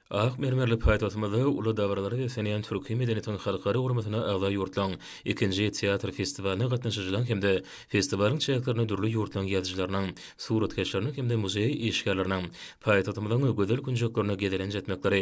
Ak mermerli paýtagtymyzda uly dabaralara beslenýän Türki medeniýetiň halkara guramasyna agza ýurtlaryň ikinji teatr festiwalyna gatnaşyjylaryň hem-de festiwalyň çäklerinde dürli ýurtlaryň ýazyjylarynyň, suratkeşleriniň hem-de muzeý işgärleriniň paýtagtymyzyň gözel künjeklerine gezelenç etmekleri,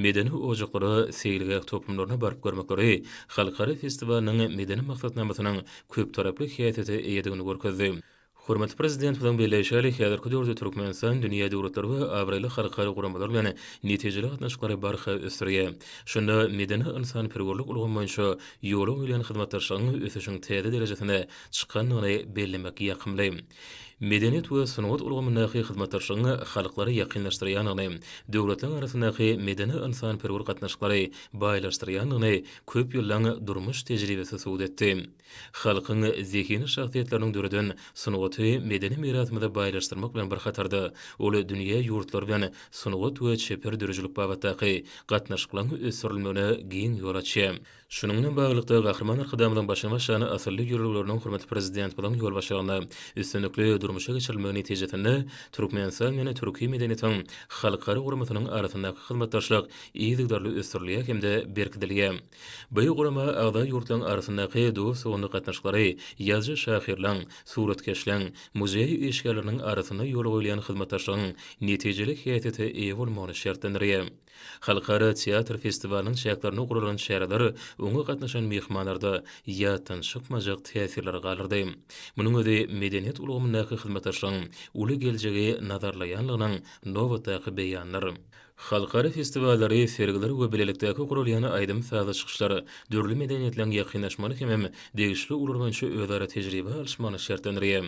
medeni ojaklara, seýilgäh toplumlaryna baryp görmekleri halkara festiwalynyň medeni maksatnamasynyň köptaraply häsiýete eýedigini görkezdi. Hormatly Prezidentimiziň belleýşi ýaly, häzirki döwürde Türkmenistan dünýä döwletleri we abraýly halkara guramalar bilen netijeli gatnaşyklary barha ösdürýär. Şunda medeni-ynsanperwerlik ulgamy boýunça ýola goýlan hyzmatdaşlygyň ösüşiň täze derejesine çykandygyny bellemek ýakymly. Medeniýet we sungat ulgamyndaky hyzmatdaşlygyň halklary ýakynlaşdyrýandygyny, döwletleriň arasyndaky medeni-ynsanperwer gatnaşyklary baýlaşdyrýandygyny köp ýyllaň durmuş tejribesi subut etdi. Halkyň zehinli şahsyýetleriniň döreden sungaty medeni mirasymyzy baýlaşdyrmak bilen bir hatarda, ol dünýä ýurtlary bilen sungat we çeper döredijilik babatdaky gatnaşyklaryň ösdürilmegine giň ýol açýar. Şunuň bilen baglylykda, Gahryman Arkadagymyzyň başyny başlan asylly ýörelgeleriniň hormatly Prezidentimiziň ýolbaşçylygynda üstünlikli durmuşa geçirilmegi netijesinde Türkmenistan bilen türki medeniýetiň halkara guramasynyň arasyndaky hyzmatdaşlyk yzygiderli ösdürilýär hem-de berkidilýär. Bu gurama agza ýurtlaryň arasyndaky dost-doganlyk gatnaşyklary, ýazyjy-şahyrlaryň, suratkeşleriň, muzeý işgärleriniň arasynda ýola goýulýan hyzmatdaşlygyň netijeli häsiýete eýe bolmagyny şertlendirýär. Halkara teatr festiwalynyň çäklerinde guralan çäreler oňa gatnaşan myhmanlarda ýatdan çykmajak täsirleri galdyrdy. Munuň özi medeniýet ulgamyndaky hyzmatdaşlygyň uly geljegi nazarlaýandygynyň nobatdaky beýanydyr. Halkara festiwallary, sergiler we bilelikdäki guralýan aýdym-sazly çykyşlar dürli medeniýetleň ýakynlaşmagyny hemem degişli ugurlar boýunça özara tejribe alyşmagyny şertlendirýär.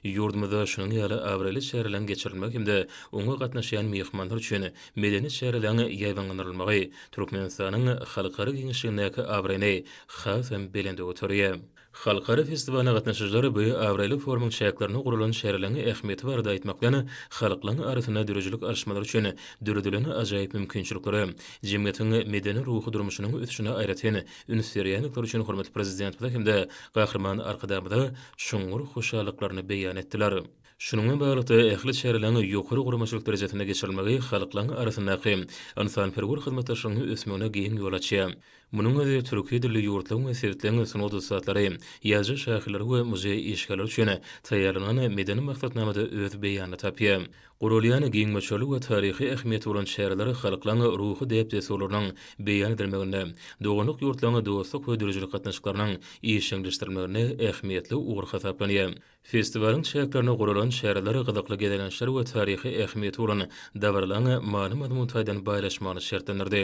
Ýurdumyzda şunuň ýaly abraýly çäreleriň geçirilmegi hem-de oňa gatnaşýan myhmanlar üçin medeni çäreleriň ýaýbaňlandyrylmagy Türkmenistanyň halkara giňişligindäki abraýyny hasam belende göterýär. Halkara festiwalyna gatnaşyjylar bu abraýly forumyň çäklerinde guralan şerleriň ähmiýeti barada aýtmak bilen, halklaryň arasynda döredijilik alyşmalar üçin döredilen ajaýyp mümkinçiliklere, jemgyýetiň medeni-ruhy durmuşynyň ösüşine aýratyn üns berýändikleri üçin hormatly Prezidentimize hem-de Gahryman Arkadagymyza çuňňur hoşallyklaryny beýan etdiler. Şunuň bilen baglylykda, ähli çäreleriň ýokary guramaçylyk derejesinde geçirilmegi halklaryň arasyndaky ynsanperwer hyzmatdaşlygyň ösmegine giň ýol açýar. Munuň özi türki dilli ýurtlaryň we sebitleň sungat ussatlary, ýazyjy şahyrlary we muzeý işgärleri üçin taýýarlanan medeni maksatnamada öz beýanyny tapýar. Guralýan giň möçberli we taryhy ähmiýeti bolan çäreler halklaryň ruhy däp-dessurlarynyň beýan edilmeginde, doganlyk ýurtlaryň dostluk we döredijilik gatnaşyklarynyň işjeňleşdirilmeginde ähmiýetli ugur hasaplanýar. Festiwalyň çäklerinde guralan çäreler gyzykly gezelençler we taryhy ähmiýeti bolan dabaralaryň many-mazmun taýdan baýlaşmagyny şertlendirdi.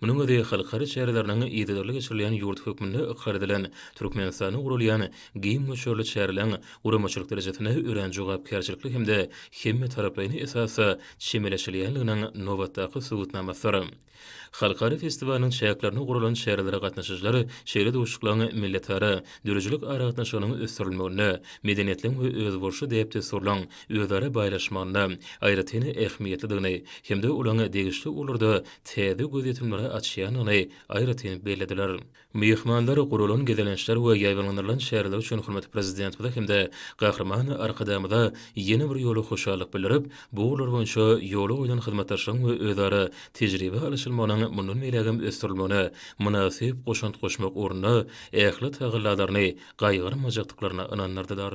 Munuň özi halkara çäreleriniň yzygiderli geçirilýän ýurt hökmünde ykrar edilen Türkmenistanda guralýan giň möçberli çäreleriň guramaçylyk derejesine örän jogapkärçilikli hem-de hemmetaraplaýyn esasda çemeleşilýändiginiň nobatdaky subutnamasydyr. Halkara festiwalynyň çäklerinde guralan çärelere gatnaşyjylar şeýle duşuşyklaryň milletara döredijilik aragatnaşygynyň ösdürilmeginde, medeniýetligiň we özboluşly däp-dessurlaryň özara baýlaşmagynda aýratyn ähmiýetlidigini hem-de olaryň degişli ugurlarda täze gözýetimleri açýandygyny aýratyn bellediler. Myhmanlar guralan gezelençler we ýaýbaňlandyrylan çäreler üçin hormatly Prezidentimize hem-de Gahryman Arkadagymyza ýene bir ýola hoşallyk bildirip, bu ugurlar boýunça ýola goýlan hyzmatdaşlygyň we özara tejribe alyşylmagynyň mundan beýlägem ösdürilmegine mynasyp goşant goşmak ugrunda ähli tagallalaryny gaýgyrmajakdyklaryna ynandyrdylar.